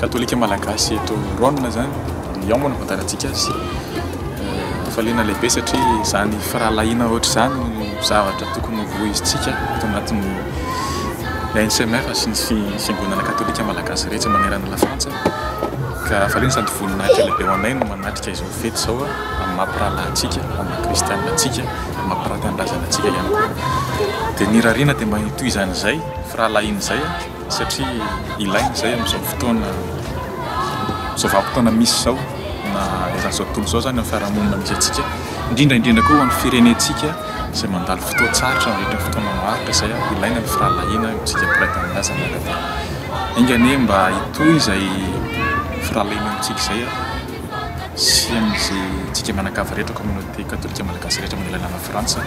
Katolika Malagasy eto Raonina zany ny ao moa no fantarantsika azy faliana lehibe satria zany firahalahiana ohatry zany no zavatra tokony ho vohizintsika eto anatin'ny ANCMR sy ny fiangonana katolika Malagasy rehetra manerana la Frantsa ka faliana sady voninahitra lehibe ho anay no manatrika izao fety izao amin'ny maha mpirahalahy antsika amin'ny maha kristianina antsika amin'ny maha mpanatanindrazana antsika ihany koa dia ny irariana dia mba hitohizana izay firahalahiana izay satria ilaina izay amin'izao fotoana izao vanim-potoana misy izao na eran'ny izao tontolo izao izany amin'ny fiarahamonina misy antsika, indrindra indrindra koa ho an'ny firenentsika izay mandalo fotoan-tsarotra mandritra ny fotoana maharitra izay an, ilaina ny firahalahiana eo amintsika mpiray tanindrazana ka dia enga anie mba hitohy izay firahalahiana eo amintsika izay an, sy amin'izay antsika mianakavy rehetra communauté katolika malagasy rehetra manerana an'i Frantsa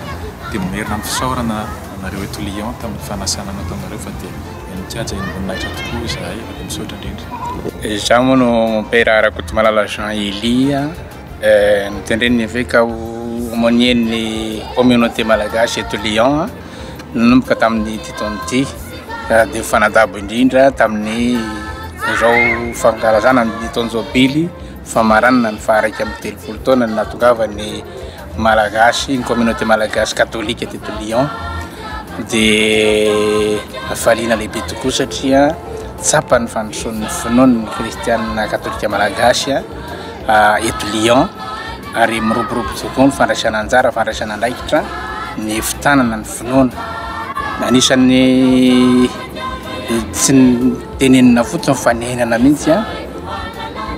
dia mamerina ny fisaorana. anareo eto Lyon tamin'ny fanasana nataonareo anareo fa dia nankajy ain'voninahitra tokoa izahay ary misaotra indrindra. Izaho moa no Mompera Rakotomalala Jean Elia, notendren'ny eveka ho aumônier-n'ny communauté malagasy eto Lyon nanomboka tamin'ity taona ity ka dia mifanadabo indrindra tamin'izao fankalazana ny taonjobily famaranana ny faha iraika amby telopolo taona ny nahatongavan'ny Malagasy, ny communauté malagasy katolika teto Lyon dia hafaliana lehibe tokoa satria tsapan'ny fandrosoan'ny finoan'ny kristianina katolika malagasy eto Lyon ary miroborobo tokoa ny fandraisana anjara, fandraisana andraikitra ny fitanana ny finoana. Anisan'ny tsy tenenina fotsiny fa nenana mihitsy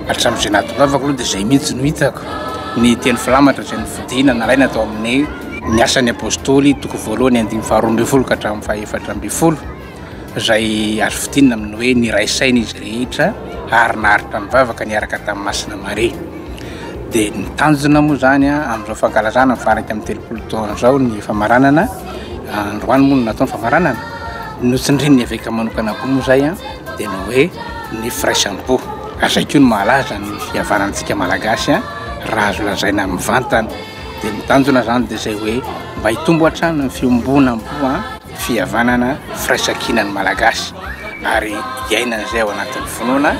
Hatramin'izay nahatongavako aloha dia izay mihitsy no hitako ny teny filamatra izay nofidina nalaina tao amin'ny ny asan'ny apostoly toko voalohany andininy faharoa ambin'ny folo ka hatramin'ny fahefatra ambin'ny folo izay azo fidinina amin'ny hoe niray saina izy rehetra ary naharitra mivavaka niaraka tamin'i Masina Maria. Dia ny tanjona moa izany amin'izao fankalazana ny faha-iraika amby telopolo taona izao ny famaranana, androany moa no natao ny famaranana, notsindrin'ny eveka manokana koa moa izay an! dia ny hoe ny firaisam-po. Ary izay koa no mahalaza ny fihavanantsika Malagasy an, raha azo lazaina mivantana. Dia ny tanjona izany dia izay hoe mba hitombo hatrany ny fiombonam-po an, fihavanana, firaisan-kina ny Malagasy ary hiainana izay ao anatin'ny finoana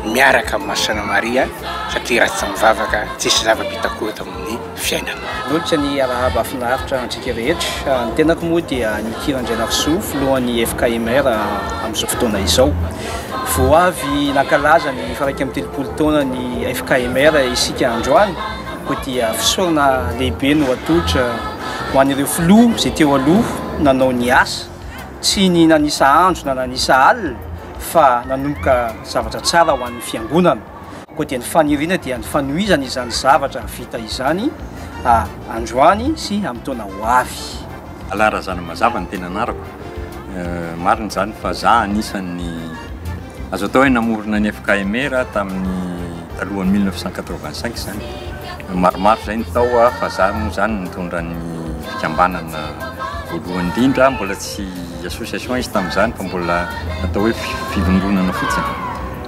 miaraka amin'i Masina Maria satria raha tsy mivavaka tsisy zava-bita koa eto amin'ny. fiainana. Minolotra ny arahaba finaritra antsika rehetra. Ny tenako moa dia Nicky Randrianarisoa, filohan'ny FKMR amin'izao fotoana izao. Vao avy nankalaza ny faharaika amby telopolo taonan'ny FKMR isika androany, koa dia fisaorana lehibe no atolotra ho an'ireo filoha izay teo aloha nanao ny asa, tsy ny nanisa andro na nanisa alina fa nanomboka zavatra tsara ho an'ny fiangonana. Koa dia ny faniriana dia ny fanohizana izany zavatra vita izany androany sy amin'ny taona ho avy. Alain Razanamazava ny tena anarako. Marina izany fa za anisan'ny azo atao hoe namorona ny FKMR tamin'ny talohan'ny mille neuf cent quatre-vingt-cinq izany. Maromaro izay ny tao fa za moa izany nitondra ny fikambanana voalohany indrindra, mbola tsy association izy tamin'izany fa mbola atao hoe fivondronana fotsiny.